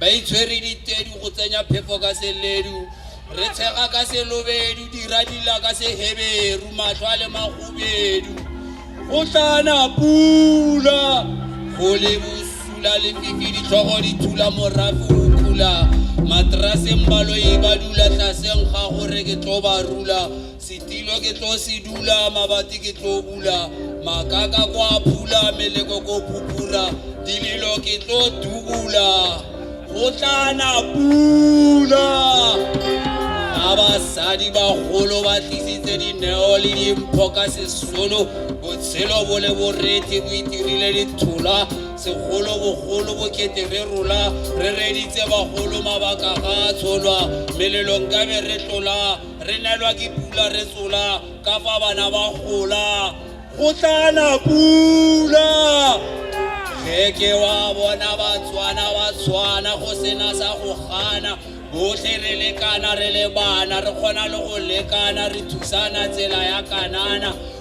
Ba itshwere ditedu go tsenya phefo ka seledu, Re tshega ka selobedu, dira dila ka seheberu, Mahlo a le mahubedu. Go tla na pula, go le bosula lefifi, Ditlhogo di thula, morafe o kula, Materaseng baloi ba dula, Tlaseng ga go re ke tlo ba rula, Setilo ke tlo se dula, mabati ke tlo bula, makaka ko a phula, meleko ko pupura, dilelo ke tlo dubula, go tla na pula. Ga basadi bagolo ba tlisitse dineo le dimpho ka sesolo, botshelo bo le boreti bo itirile dithola, segolo bogolo bokete re rola, re reditse bagolo mabaka ga a tsholwa, melelo nkabe re tlola, Re nelwa ke pula re tsola, ka fa bana ba gola, go tla na pula. Ge ke wa bona Batswana ba tshwana, go sena sa go gana, bohle re lekana re le bana, re kgona le go lekana, re thusana tsela ya kanana,